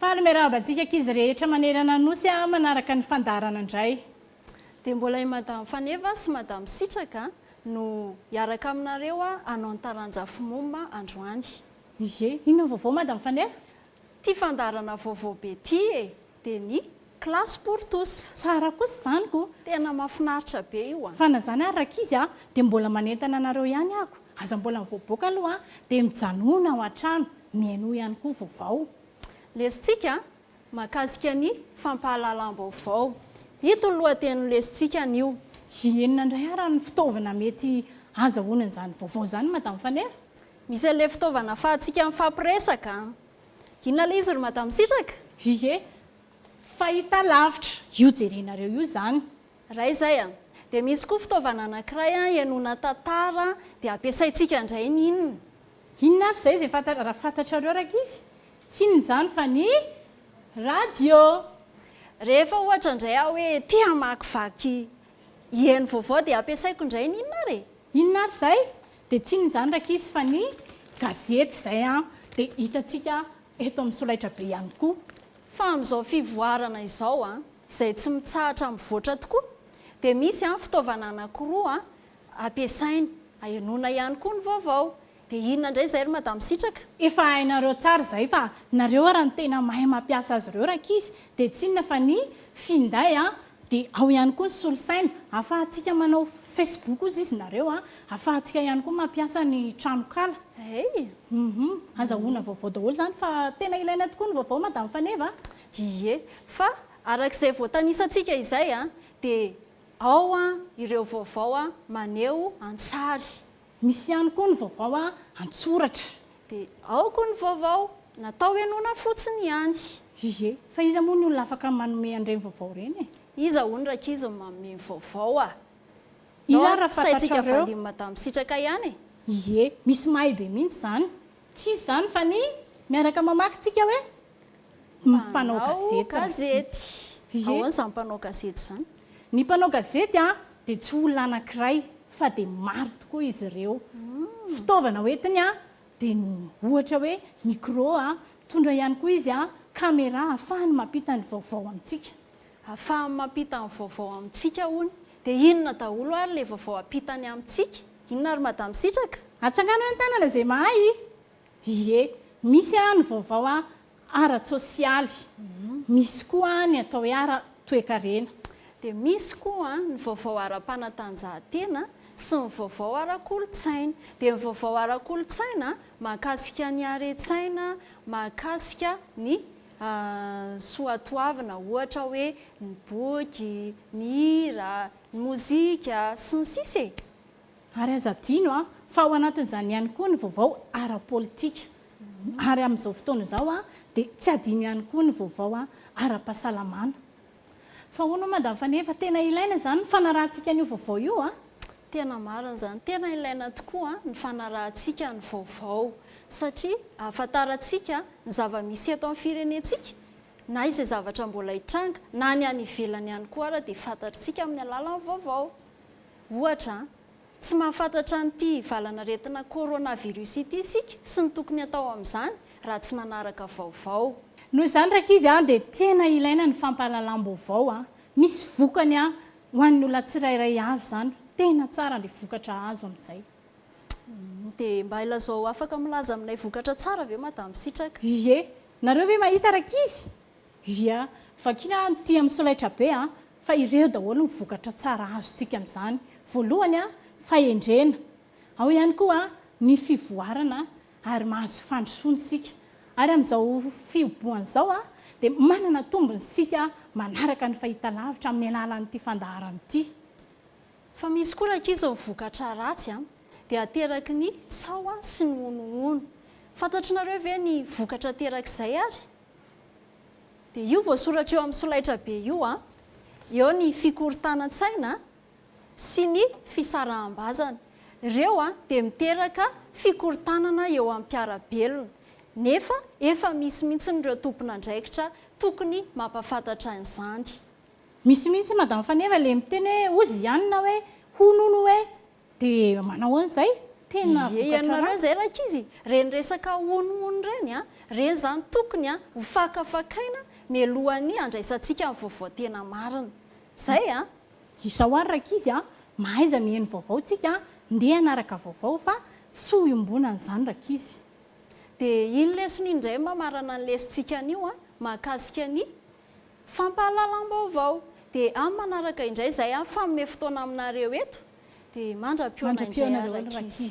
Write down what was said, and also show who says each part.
Speaker 1: Faly miarahaba antsika ankizy rehetra manerana ny Nosy a manaraka ny fandaharana indray. Dia mbola
Speaker 2: i Madame Faneva sy Madame Sitraka no hiaraka aminareo hanao ny taranja fmom androany. Ie, inona
Speaker 1: ny vaovao Madame Faneva? Tia fandaharana
Speaker 2: vaovao be ity e! dia ny classe pour tous. Tsara kosa izany ko.
Speaker 1: Tena mafinaritra
Speaker 2: be io a. Fa na zany ary rakizy
Speaker 1: a dia mbola manentana anareo ihany ako aza mbola mivoaboaka aloha a dia mijanona ao antrano mihainoa ihany koa vaovao. Lesintsika
Speaker 2: mahakasika ny fampahalalam-baovao. Ito ny lohatenin'io lesintsikany io. Hienina indray
Speaker 1: ara ny fitaovana mety azahoana an'izany vaovao izany Madame Faneva? Misy an'ilay
Speaker 2: fitaovana afahantsika mifampiresaka. Inona ilay izy ry Madame Sitraka? Ie,
Speaker 1: fahita lavitra, io jerenareo io izany. Raha izay an!
Speaker 2: dia misy koa fitaovana anankiray an ihainoana tantara an, dia ampiasaintsika indray ny inona? Inona ary izay
Speaker 1: izay fantatra, raha fantatrareo rankizy? Tsy inona izany fa ny radio!
Speaker 2: Rehefa ohatra indray aho hoe te hamakivaky hihaino vaovao dia ampiasaiko indray ny inona ary e? Inona ary izay?
Speaker 1: Dia tsy inona izany rankizy fa ny gazety izay dia hitantsika eto amin'ny solaitrabe ihany koa. Fa amin'izao
Speaker 2: fivoarana izao izay tsy mitsahatra mivoatra tokoa dia misy fitaovana anankiroa ampiasaina ahenoana ihany koa ny vaovao. Dia inona indray izay ry Madame Sitraka? Efa hainareo
Speaker 1: tsara izay fa nareo ary no tena mahay mampiasa azy ireo rankizy dia tsy inona fa ny finday Dia ao ihany koa ny solosaina. Ahafahantsika manao Facebook hozy izy nareo a. Ahafahantsika ihany koa mampiasa ny tranonkala. Hey! Uhum. Azahoana vaovao daholo izany fa tena ilaina tokoa ny vaovao Madame Faneva a. Ie.
Speaker 2: Fa araka izay voatanisantsika izay dia ao ireo vaovao maneho an-tsary. Misy ihany koa
Speaker 1: ny vaovao an-tsoratra. Dia ao
Speaker 2: koa ny vaovao natao henoina fotsiny ihany. Ie, fa
Speaker 1: iza moa ny olona afaka manome an'ireny vaovao ireny e? Iza hono rankizy
Speaker 2: no manome ny vaovao a? Iza
Speaker 1: ary raha fantatrareo? Saintsika Madame Sitraka
Speaker 2: ihany e! Ie, misy
Speaker 1: mahay be mihitsy izany. Tsy izy izany fa ny miaraka mamaky tsika hoe Mpanao gazety. Ahoana izany
Speaker 2: mpanao gazety izany? Ny mpanao gazety
Speaker 1: dia tsy olona anankiray fa dia maro tokoa izy ireo. Fitaovana hoentiny dia ohatra hoe micro, mitondra ihany koa izy caméra ahafahany mampita ny vaovao amintsika. Ahafahany
Speaker 2: mampita ny vaovao amintsika hono. Dia inona daholo ary ilay vaovao ampitany amintsika? Inona ary Madame Sitraka? Atsangano an-tanana
Speaker 1: izay mahay Ie, misy an ny vaovao an ara-tsosialy, misy koa an ny atao hoe ara-toekarena. Dia misy
Speaker 2: koa an ny vaovao ara-panatanjahantena sy ny vaovao ara-kolontsaina. Dia ny vaovao ara-kolontsaina mahakasika ny haren-tsaina, mahakasika ny soatoavina ohatra hoe ny boky, ny hira, ny mozika, sy ny sisa e. Ary aza
Speaker 1: adino fa ao anatin'izany ihany koa ny vaovao ara-politika. Ary amin'izao fotoana izao dia tsy adino ihany koa ny vaovao ara-pahasalamana. Fa ahoana moa Madame Faneva, tena ilaina izany ny fanarahantsika an'io vaovao io a? Tena marina
Speaker 2: izany, tena ilaina tokoa ny fanarahantsika ny vaovao satria ahafantarantsika ny zava-misy eto amin'ny firenentsika na izay zavatra mbola hitranga na ny any ivelany ihany koa ary dia fantatritsika amin'ny alalan'ny vaovao. Ohatra an! Tsy mahafantatra an'ity valan'aretina coronavirus ity isika sy ny tokony atao amin'izany raha tsy nanaraka vaovao. Noho izany rankizy
Speaker 1: an, dia tena ilaina ny fampahalalam-baovao an! Misy vokany an! Ho an'ny olona tsirairay avy izany, tena tsara ilay vokatra azo amin'izay.
Speaker 2: Dia mba ilazao afaka milaza aminay vokatra tsara ve madame sitraka. Ie! Nareo
Speaker 1: ve mahita rankizy? Ia, vakina any ity amin'ny solaitra be fa ireo daholo ny vokatra tsara azontsika amin'izany. Voalohany, fahendrena. Ao ihany koa ny fivoarana ary mahazo fandrosoana isika. Ary amin'izao fihobohana izao dia manana tombony isika manaraka ny fahitalavitra amin'ny alalan'ity fandaharana ity. Fa
Speaker 2: misy koa rankizy ny vokatra ratsy dia ateraky ny tsaho sy ny honohono. Fantatr'nareo ve ny vokatra aterak'izay ary? Dia io voasoratra eo amin'ny solaitrabe io an, eo ny fikorontanan-tsaina sy ny fisaraham-bazana. Ireo an dia miteraka fikorontanana eo amin'ny mpiara-belona, nefa efa misy mihitsy ireo tompon'andraikitra tokony mampafantatra an'izany. Misy
Speaker 1: mihitsy Madame Faneva le miteny hoe hozy ihany na hoe hono hono hoe Dia manao ahoana izay? Tena vokatra ratsy. Ie ianareo izay
Speaker 2: rankizy, ireny resaka honohono ireny an, ireny izany tokony an ho fakafakaina mialohan'ny handraisantsika ny vaovao tena marina. Izay an! Izao ary
Speaker 1: rankizy an, mahaiza miheno vaovao tsika an, ndeha hanaraka vaovao fa tsy ho iombonana izany rankizy. Dia
Speaker 2: iny lesona iny indray mba marana ny lesontsika anio an, mahakasika ny. Fampahalalam-baovao, dia amin'ny manaraka indray izay aho fanome fotoana aminareo eto, dia mandra-pihaona indray aho Rakisy.